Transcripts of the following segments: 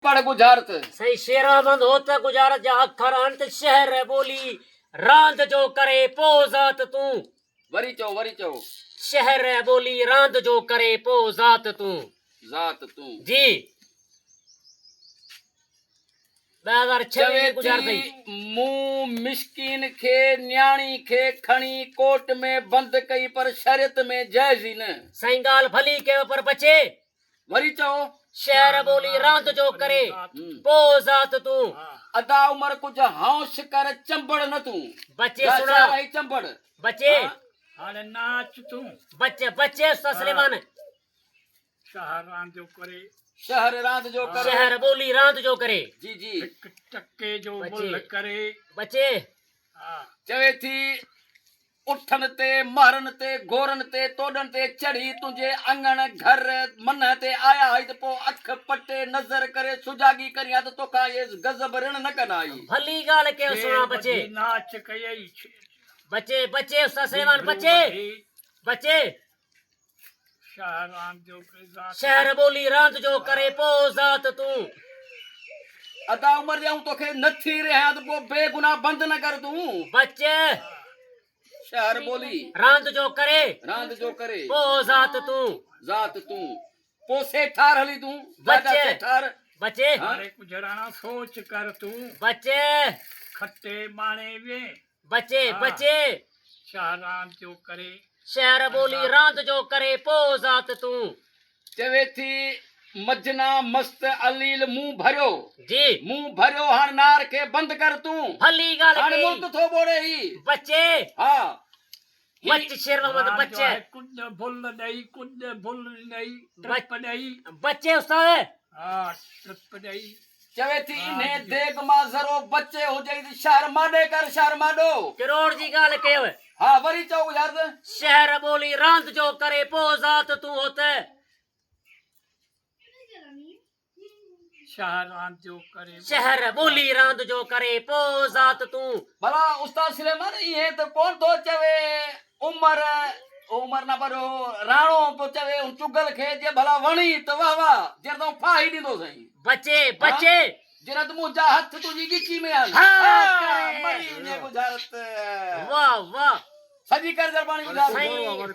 پڙهه ڳجهارت. سائين شيراحمد هو ته ڳجهارت جا اکر انت شهر ٻولي راند جو ڪري پو ذات تون. وري چئو وري چئو. شهر ٻولي راند جو ڪري پو ذات تون. ذات تون. جي ٻه هزار ڇهه چوي ٿي مون مسڪين کي نياڻي کي کڻي ڪوٽ ۾ بند ڪئي پر شريعت ۾ جائز ئي نه. سائين ڳالهه ڀلي ڪيو پر بچي وري چئو شعر ٻولي راند جو ڪري پو ذات تون. ادا عمر ڪجھ هائون شڪر چنبڙ نه تون. بچي سڻا شعر هي چنبڙ بچي هاڻي ناچ تون. بچ بچي استاد سليمان. شهر راند جو ڪري. شهر راند جو ڪري. شهر ٻولي راند جو ڪري. جي جي. هڪ ٽڪي جو ملھ ڪري. بچي. چوي ٿي اٺن تي، مهرن تي، گورن تي، توڏن تي چڙهي تنهنجي اڱڻ، گهر، منهن تي آيا هائي ته پوء اک پٽي، نظر ڪري، سجاڳي ڪرين ها ته توکان اهي غضب رڻ نه ڪن هائي. ڀلي ڳالهه ڪيو سهڻا بچي. بچي بچي استاد سليمان بچي بچي. شهر ٻولي راند جو ڪري پو ذات تون ادا عمر جي آئون توکي نه ٿي رهيان ته پو بي گناهه بند نه ڪر تون بچ شهر ٻولي راند جو ڪري راند جو ڪري پو ذات تون ذات تون پو سيٺار هلي تون بچ سيٺار بچي هر هڪ جهراڻا سوچ ڪر تون بچ کٽي ماڻي وين بچي بچي شهر راند جو ڪري. شهر ٻولي راند جو ڪري پوء ذات تون. چوي ٿي مجنا مست عليل منهن ڀريو. جي. منهن ڀريو هاڻ نار کي بند ڪر تون. ڀلي ڳالهه ڪئي. هاڻ مرد ٿو ٻوڙي هي. بچي. ها. بچ شير محمد بچ راج آهي ڪڄ ڀل ڏئي ڪڄ ڀل ڏئي ٽپ ڏئي بچ استاد ها ٽپ ڏئي چوي ٿي انهي ديڳ مان ذرو بچ هجئي ته شهر ماڏي ڪر شهر ماڏو ڪروڙ جي ڳالهه ڪيو ها وري چئو يار ته. شهر ٻولي راند جو ڪري پوء ذات تون هو ته. شهر راند جو ڪري شهر ٻولي راند جو ڪري پو ذات تون ڀلا استاد سليمان ايئن ته ڪون ٿو چوي عمر عمر نه پر راڻو پيو چوي ان چگل کي جي ڀلا وڻي ته واھ واھ جر تون ڦاهي ڏيندو سائين بچي بچي جرت مون جا هٿ تنهنجي ڳچي ۾ آن ها ڪري مري وڃي بجارت واھ واھ سائين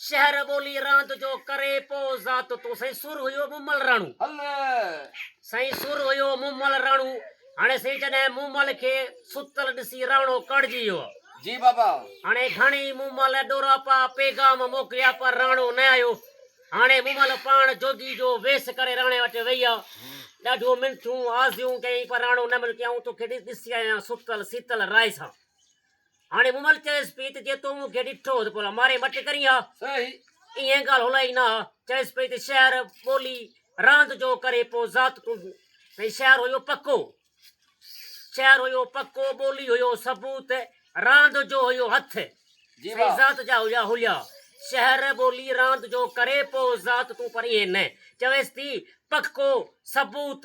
شهر ٻولي راند جو ڪري پو ذات تون سائين سر هيو مومل راڻو سائين سر هيو مومل راڻو هاڻي سائين جڏهن مومل کي ستل ڏسي راڻو ڪڙجي ويو جي بابا هاڻي گهڻي مومل ڏوراپا پيغام موڪليا پر راڻو نه آيو هاڻي مومل پاڻ جوڳي جو ويس ڪري راڻي وٽ ويئي آ ڏاڍيون منٿيون آزيون ڪيائين پر راڻو نه ملڪيائون توکي ڏسي آيان ستل سيتل راء سان هاڻي مومل چيس پئي ته جي تون مون کي ڏٺو ته ڀلا ماري مٽ ڪرين ها. ايئن ڳالهه هلائي نه ها. چيس پئي ته شهر، ٻولي، راند جو ڪري پوء ذات تون ٿئي. شهر هيو پڪو. شهر هيو پڪو، ٻولي هيو ثبوت، راند جو هيو هٿ ۽ ذات جا هيا هليا. شهر، ٻولي، راند جو ڪري پوء ذات تون پر ايئن نه. چويس ٿي پڪو، ثبوت،